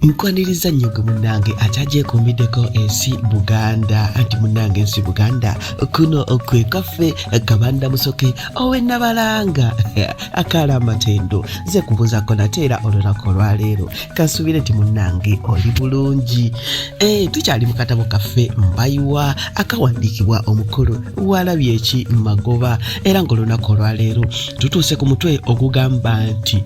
nkwaniriza nnyo gwe munnange akyagyekumbiddeko ensi buganda anti munnange ensi buganda kuno kwe kaffe gabanda musoke owe nabalanga akaala amatendo ze kubuuzako nate era olunaku olwaleero kansuubire nti munnange oli bulungi eh, tukyali mu katabo kaffe mbayiwa akawandiikibwa omukulu walabye eki magoba era ng'olunaku olwaleero tutuuse ku mutwe ogugamba nti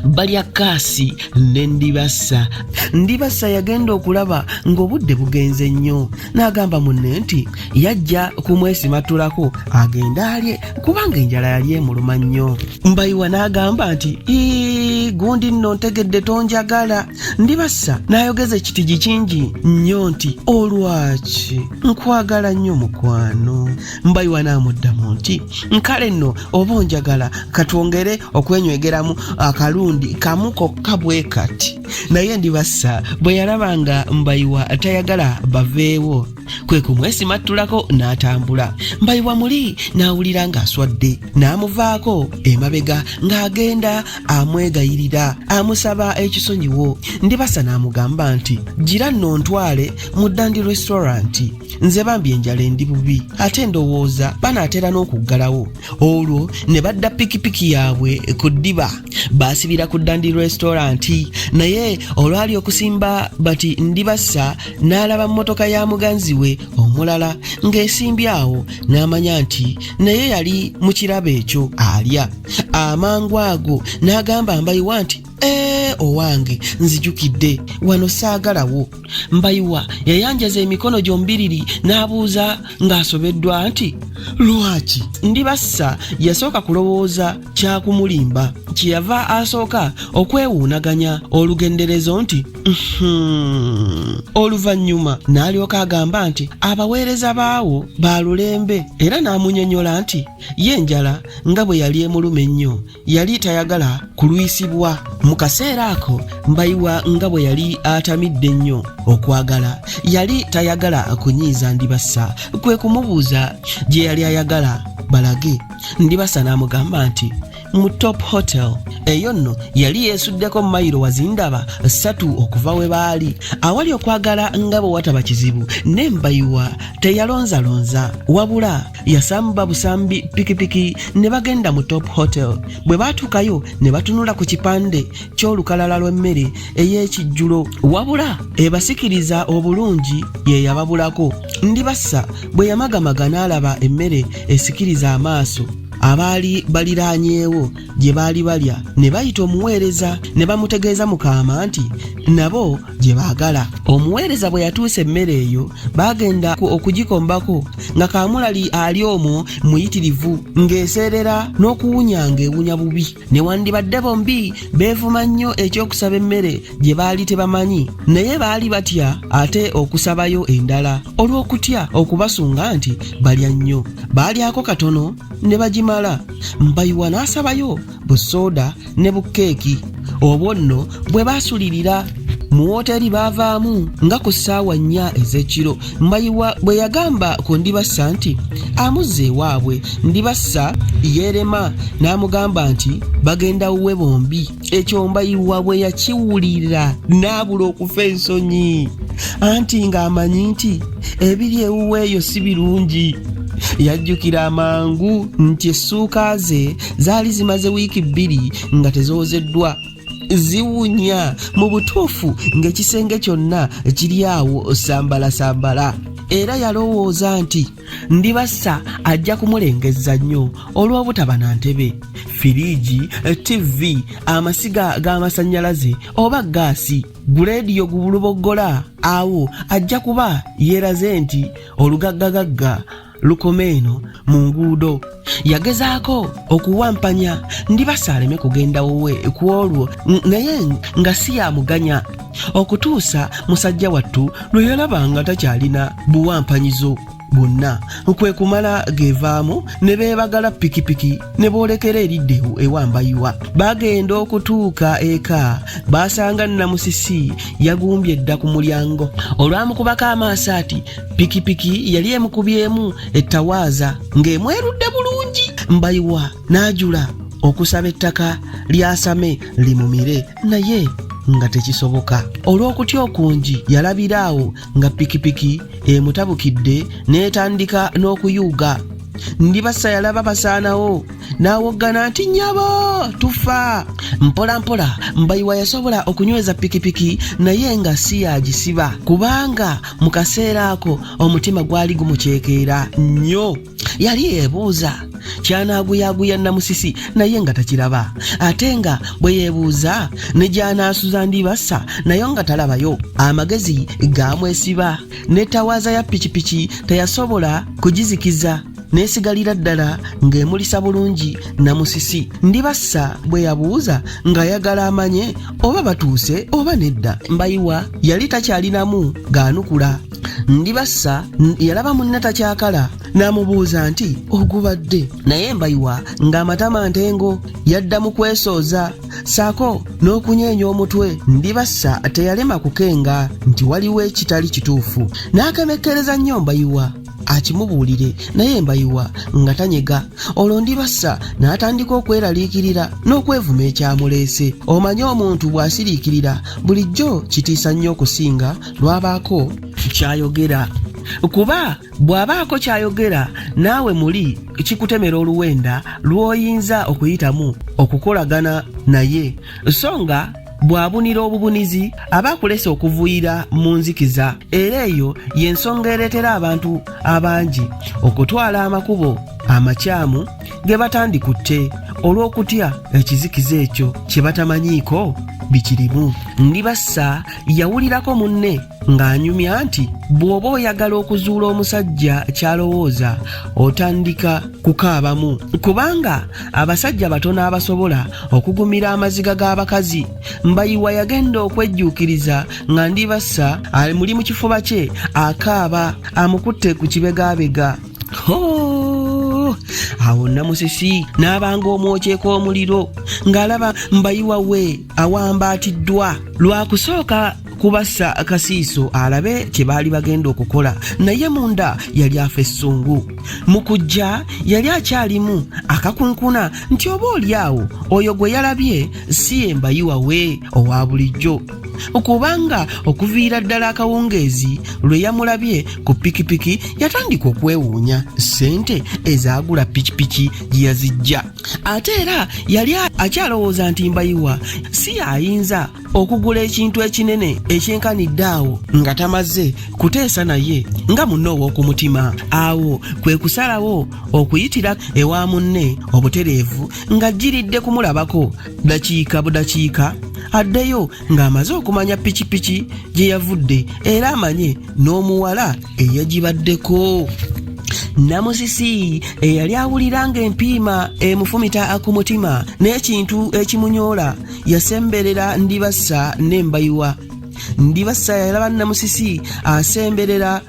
balya kaasi ne ndibassa ndibassa yagenda okulaba ng'obudde bugenze nnyo n'agamba munne nti yajja kumwesimatulako agende alye kubanga enjala yali emuluma nnyo mbayiwa n'agamba nti ii gundi nno ntegedde tonjagala ndibassa n'ayogeza ekitigi kingi nnyo nti olwaki nkwagala nnyo mukwano mbayiwa n'amuddamu nti nkale nno oba onjagala katwongere okwenywegeramu akalundi kamu kokka bwe kati naye ndibassa bwe yalaba nga mbayiwa tayagala baveewo kwe kumwesimattulako n'atambula mbayiwa muli n'awulira ng'aswadde n'amuvaako emabega ng'agenda amwegayirira amusaba ekisonyiwo ndibasa n'amugamba nti gira nno ntwale mu dandi restauranti nze bambi enjala endi bubi ate ndowooza banaatera n'okuggalawo olwo ne badda pikipiki yaabwe ku ddiba baasibira ku dandi resitoranti naye olwali okusimba bati ndibassa n'alaba mmotoka ya muganzi we omulala ng'esimbye awo n'amanya nti naye yali mu kirabo ekyo alya amangu ago n'agamba mbayiwa nti Ee, owange nzijukidde wano saagalawo mbayiwa yayanjaza emikono gyombiriri n'abuuza ng'asobeddwa nti lwaki ndi bassa yasooka kulowooza kyakumulimba kyeyava asooka okwewuunaganya olugenderezo nti hmm. oluvannyuma n'alyoka agamba nti abaweereza baawo baalulembe era n'amunyonyola nti ye njala nga bwe yali emuluma ennyo yali tayagala kulwisibwa mu kaseera ako mbayiwa nga bwe yali atamidde nnyo okwagala yali tayagala kunyiiza ndibassa kwe kumubuuza gye yali ayagala balage ndibasa n'amugamba nti mu top hotel eyo nno yali yeesuddeko mayiro wazindaba ssatu okuva we baali awali okwagala nga bwe wataba kizibu n'embayiwa teyalonzalonza wabula yasamba busambi pikipiki ne bagenda mu top hotel bwe baatuukayo ne batunula ku kipande ky'olukalala lw'emmere ey'ekijjulo wabula ebasikiriza obulungi ye yababulako ndibassa bwe yamagamaga n'alaba emmere esikiriza amaaso abaali baliraanyeewo gye baali balya ne bayita omuweereza ne bamutegeeza mukaama nti nabo gye baagala omuweereza bwe yatuusa emmere eyo baagenda okugikombako nga kaamulali ali omwo muyitirivu ng'eseerera n'okuwunya ng'ewunya bubi newandibadde bombi beevuma nnyo eky'okusaba emmere gye baali tebamanyi naye baali batya ate okusabayo endala olw'okutya okubasunga nti balya nnyo baalyako katono ne bagimala mpayiwa n'asabayo bu soda ne bu keeki obwo nno bwe baasulirira mu wooteeri baavaamu nga ku ssaawa nnya ez'ekiro mbayiwa bwe yagamba ku ndibassa nti amuzza ewaabwe ndibassa yeerema n'amugamba nti bagenda wuwe bombi ekyo mbayiwa bwe yakiwulira n'abula okufa ensonyi anti ng'amanyi nti ebiri ewuwe eyo si birungi yajjukira amangu nti essuuka ze zaali zimaze wiiki bbiri nga tezoozeddwa ziwunya mu butuufu ng'ekisenge kyonna kiri awo sambalasambala era yalowooza nti ndibassa ajja kumulengezza nnyo olw'obutaba na ntebe firiigi ttivi amasiga g'amasannyalaze oba gaasi guleediyo gubuluboggola awo ajja kuba yeeraze nti olugaggagagga lukoma eno mu nguudo yagezaako okuwampanya ndibasa aleme kugenda wuwe ku olwo naye nga si yamuganya okutuusa musajja wattu lwe yalaba nga takyalina buwampanyizo bwonna kwe kumala gevaamu ne beebagala pikipiki ne boolekera eridde ewambayiwa bagenda okutuuka eka baasanga namusisi yagumbye dda ku mulyango olwamukubako amaaso ati pikipiki yali emukubyemu ettawaaza ng'emwerudde bulungi mbayiwa n'ajula okusaba ettaka lyasame limumire naye nga tekisoboka olw'okutya okungi yalabira awo nga pikipiki emutabukidde n'etandika n'okuyuuga ndibassa yalaba basaanawo n'awoggana nti nyabo tufa mpola mpola mbayiwa yasobola okunyweza pikipiki naye nga si yagisiba kubanga mu kaseera ako omutima gwali gumuceekeera nnyo yali yeebuuza kyanaaguyaguya namusisi naye nga takiraba ate nga bwe yeebuuza ne gyanaasuza ndibasa nayo nga talabayo amagezi gaamwesiba ne tawaaza ya pikipiki teyasobola kugizikiza n'esigalira ddala ng'emulisa bulungi namusisi ndibassa bwe yabuuza ng'ayagala amanye oba batuuse oba nedda mbayiwa yali takyalinamu gaanukula ndibassa yalaba munne takyakala n'amubuuza nti ogubadde naye mbayiwa ng'amatama ntengo yadda mu kwesooza saako n'okunyeenya omutwe ndibassa teyalema kukenga nti waliwo ekitali kituufu n'akemekkereza nnyo mbayiwa akimubuulire naye mbayiwa nga tanyega olwo ndibassa n'atandika okweraliikirira n'okwevuma ekyamuleese omanye omuntu bw'asiriikirira bulijjo kitiisa nnyo okusinga lwabaako kyayogera kuba bw'abaako kyayogera naawe muli kikutemera oluwenda lw'oyinza okuyitamu okukolagana naye so nga bw'abunira obubunizi aba akulese okuvuyira mu nzikiza era eyo y'ensonga ereetera abantu abangi okutwala amakubo amakyamu ge batandikutte olw'okutya ekizikiza ekyo kye batamanyiiko bikirimu ndibassa yawulirako munne ng'anyumya nti bw'oba oyagala okuzuula omusajja ky'alowooza otandika kukaabamu kubanga abasajja batono abasobola okugumira amaziga g'abakazi mbayiwa yagenda okwejjuukiriza nga ndibassa ali muli mu kifuba kye akaaba amukutte ku kibegaabega awo namusisi n'abanga omwokyeko omuliro ng'alaba mbayiwa we awambaatiddwa lwakusooka kubassa akasiiso alabe kye baali bagenda okukola naye munda yali afa essungu mu kujja yali akyalimu akakunkuna nti oba olyawo oyo gwe yalabye si ye mbayiwa we owa bulijjo kubanga okuviira ddala akawungeezi lwe yamulabye ku pikipiki yatandika okwewuunya ssente ezaagula pikipiki gye yazijja ate era yali akyalowooza nti mbayiwa si y'ayinza okugula ekintu ekinene ekyenkanidde awo nga tamaze kuteesa naye nga munne ow'okumutima awo kwe kusalawo okuyitira ewa munne obutereevu nga jjiridde kumulabako dakiika budakiika addeyo ng'amaze okumanya pikipiki gye yavudde era amanye n'omuwala eyagibaddeko namusisi eyali awulira ng'empiima emufumita ku mutima n'ekintu ekimunyoola yasemberera ndibassa nembayiwa ndibassa yalaba namusisi asemberera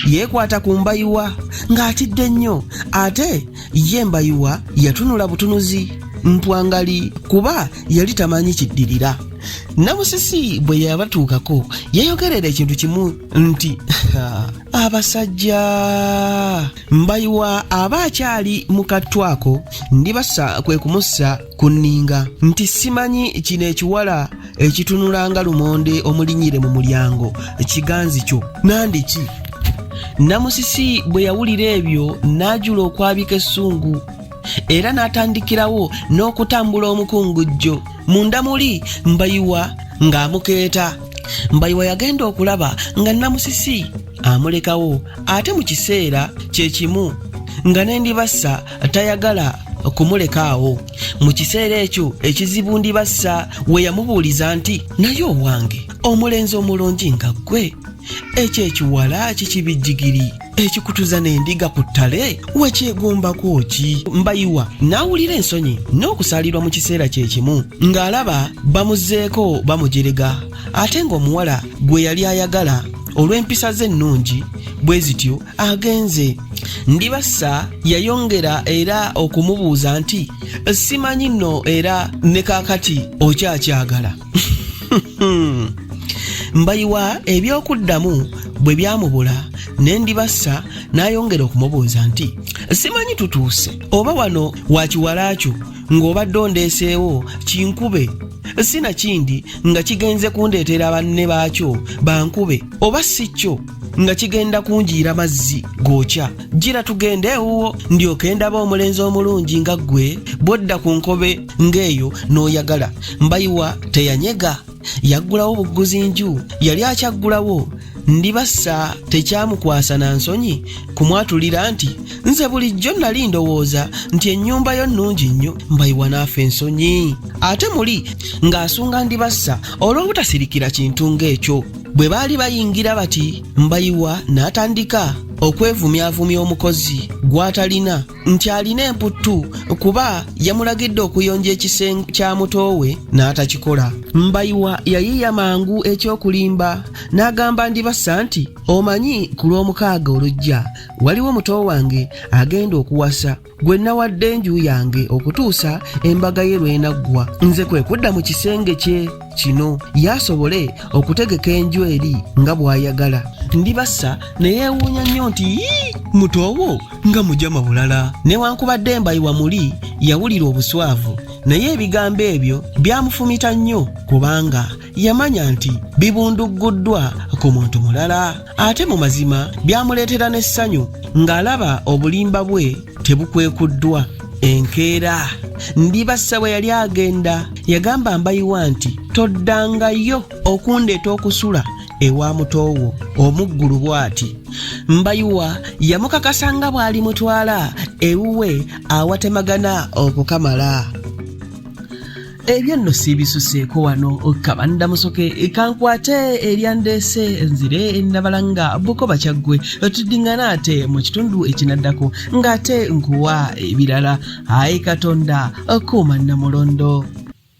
yeekwata ku mbayiwa ng'atidde nnyo ate ye mbayiwa yatunula butunuzi mpwangali kuba yali tamanyi kiddirira namusisi bwe yabatuukako yayogerera ekintu kimu nti abasajja mbayiwa aba akyali mu kattwako ndibasa kwe kumussa ku nninga nti simanyi kino ekiwala ekitunula nga lumonde omulinyire mu mulyango kiganzi kyo nandiki namusisi bwe yawulira ebyo n'ajula okwabika essungu era n'atandikirawo n'okutambula omukungujjo munda muli mbayiwa ng'amukeeta mbayiwa yagenda okulaba nga namusisi amulekawo ate mu kiseera kye kimu nga n'endibassa tayagala kumuleka awo mu kiseera ekyo ekizibu ndibassa we yamubuuliza nti naye owange omulenzi omulungi nga ggwe ekyo ekiwala kikibijjigiri ekikutuza n'endiga ku ttale wekyegombako ki mbayiwa n'awulira ensonyi n'okusaalirwa mu kiseera kye kimu ng'alaba bamuzeeko bamujerega ate ng'omuwala gwe yali ayagala olw'empisa ze ennungi bwe zityo agenze ndibassa yayongera era okumubuuza nti simanyi nno era ne kakati okyakyagala mbayiwa ebyokuddamu bwe byamubula ne ndibassa n'ayongera okumubuuza nti simanyi tutuuse oba wano wakiwalaakyo ng'obadde ondeeseewo kinkube si nakindi nga kigenze kundeetera banne baakyo bankube oba si kyo nga kigenda kunjiira mazzi gookya gira tugende ewuwo ndyoke ndaba omulenzi omulungi nga ggwe bwodda ku nkobe ng'eyo n'oyagala mbayiwa teyanyega yaggulawo bugguzi nju yali akyaggulawo ndibassa tekyamukwasa na nsonyi kumwatulira nti nze bulijjo nali ndowooza nti ennyumba yo nnungi nnyo mbayiwa naafa ensonyi ate muli ng'asunga ndibassa olw'obutasirikira kintu ng'ekyo bwe baali bayingira bati mbayiwa n'atandika okwevumyavumya omukozi gw'atalina nti alina emputtu kuba yamulagidde okuyonja ekisenge kya mutoowe n'atakikola mbayiwa yayiiya mangu ekyokulimba n'agamba ndibassa nti omanyi ku lw'omukaaga olujja waliwo muto wange agenda okuwasa gwe nawadde enju yange okutuusa embaga ye lwenaggwa nze kwe kudda mu kisenge kye kino yasobole okutegeka enju eri nga bw'ayagala ndibassa ne yeewuunya nnyo nti mutoowo nga mujama bulala newankubadde mbayiwa muli yawulira obuswavu naye ebigambo ebyo byamufumita nnyo kubanga yamanya nti bibundugguddwa ku muntu mulala ate mu mazima byamuleetera n'essanyu ng'alaba obulimba bwe tebukwekuddwa enkeera ndibassa bwe yali agenda yagamba mbayiwa nti toddangayo okundeeta okusula ewa mutoowo omuggulu bw'ati mbayiwa yamukakasa nga bw'ali mutwala ewuwe awatemagana okukamala ebyo nno siibisuseeko wano kabanda musoke kankwate ebyandeese nzire nabala nga bukoba kyaggwe tuddingana ate mu kitundu ekinaddako ng'ate nkuwa ebirala ayi katonda kuuma namulondo